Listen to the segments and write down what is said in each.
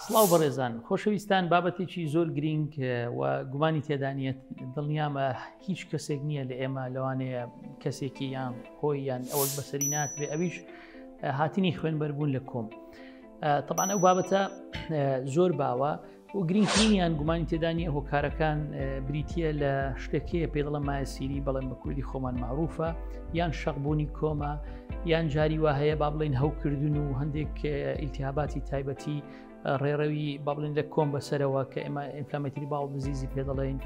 سڵاو بەڕێزان خۆشەویستان بابەتێکی زۆر گرینگ و گومانی تێدانیت دڵنیامە هیچ کەسێک نییە لە ئێمە لەوانەیە کەسێکی یان خۆی یان ئەوەک بەسەری ناتبێ ئەویش هاتنی خوێنبەربوون لە کۆم طبعا ئەو بابەتە زۆر باوە و گرینگترینیان گومانی تێدانی هۆکارەکان بریتە لە شتەکەیە پێ دڵە مایە سیری بەڵێن بە کوردی خۆمان معروفە یان شەقبوونی کۆمە یان جاری وا هەیە با بڵین هەوکردن و هەندێک ئیلتیاباتی تایبەتی ڕێڕەوی با بڵین لە کۆم بەسەرەوە کە ئێمە ئینفلامەتری باو بزیزی پێ دەڵێین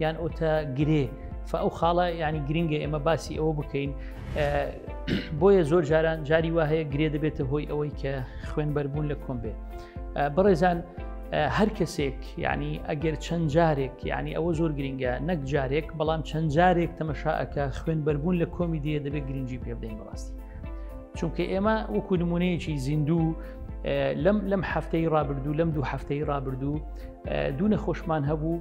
یان ئۆتە گرێ فەو خاڵە ینی گرنگە ئێمە باسی ئەوە بکەین بۆیە زۆر جاران جاری وا هەیە گرێ دەبێتە هۆی ئەوەی کە خوێن بەربوون لە کۆم بێت بەڕێزان هەر کەسێک ینی ئەگەر چەند جارێک ینی ئەوە زۆر گرنگە نەک جارێک بەڵام چەند جارێک تەمەشاەکە خوێن بەربوون لە کۆمی دێ دەبێت گرنگجی پێ بدەین بەڕاستی چونکە ئێمە وەکو نمونەیەکی زیندوو لەم لەم هەفتەی ڕابردوو لەم دوو هەفتەی ڕابردوو دوو نەخۆشمان هەبوو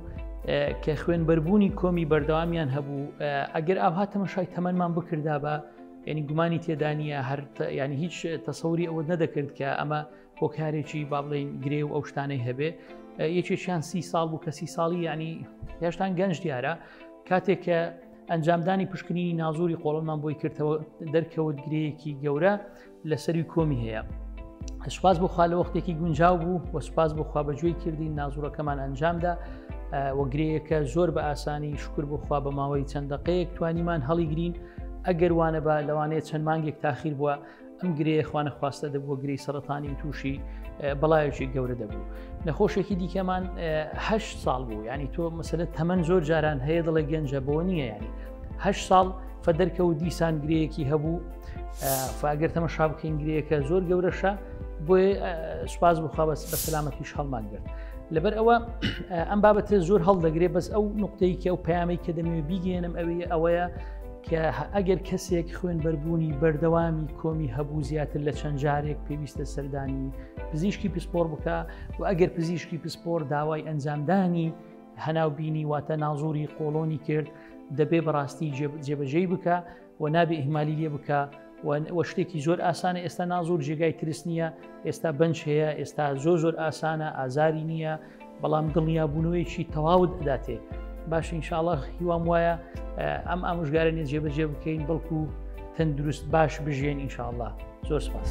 کە خوێن بەربوونی کۆمی بەردەوامیان هەبوو ئەگەر ئاها تەمەشای تەمەمان بکردا بە ینی گومانی تێدانە هەر ینی هیچ تەسەوری ئەوە نەدەکرد کە ئەمە هۆکارێکی با بڵێین گرێ و ئەو شتانەی هەبێ یەکێکیان سی ساڵ بوو کە سی ساڵی ینی هێشتان گەنج دیارە کاتێک کە ئەنجامدانی پشکنینی نازوری قۆڵمان بۆی کردەوە دەرکەوت گرەیەکی گەورە لە سەری کۆمی هەیە. سوپاس بخوا لە وەختێکی گونجاو بوو و سوپاس بخوا بەگوێی کردین نازورەکەمان ئەنجامدا وەگرەیەکە زۆر بە ئاسانی شکر بخوا بە ماوەی چەند دقەیەک توانیمان هەڵیگرین ئەگەر وانە بە لەوانەیە چەند مانگێک تاخیر بووە ئەم گرێ خوانەخواستە دەبووە گری سەرەتانی و تووشی بەڵایەکی گەورە دەبوو نەخۆشێکی دیکەمان هه ساڵ بوو ینی تۆ مەسلە تەمەەن زۆر جاران هەیە دڵە گەنجە بۆ نییە ینی هه ساڵ فەدەرکە و دیسان گرەیەکی هەبوو فاگەر تەمە شابکەین گرەیەەکە زۆر گەورەشە بۆی سوپاس بخوا بەس بە سەلامەتیش هەڵمان گرت لەبەر ئەوە ئەم بابەتە زۆر هەڵدەگرێ بەس ئەو نقطەیەکی ئەو پامەی کە دەمەوێت بیگەێنم ئەوەیە ئەوەیە کە ئەگەر کەسێک خوێن بەربوونی بەردەوامی کۆمی هەبوو زیاتر لە چەند جارێک پێویستە سەردانی پزیشکی پسپۆر بکە و ئەگەر پزیشکی پسپۆر داوای ئەنجامدانی هەناوبینی واتە نازوری قۆڵۆنی کرد دەبێ بەڕاستی جێبەجێی بکە و نابێ ئیهمالی لێ بکە وە شتێکی زۆر ئاسانە ئێستا نازۆر جێگای ترس نییە ئێستا بنج هەیە ئێستا زۆر زۆر ئاسانە ئازاری نییە بەڵام دڵنیا بوونەوەیکی تەواوت ئەداتێ باش انشاءله هیوام وایە ئەم ئامژگارە نیە جێبەجێ بکەین بەڵکو تەندروست باش بژێن انشاءله زۆر سپاس.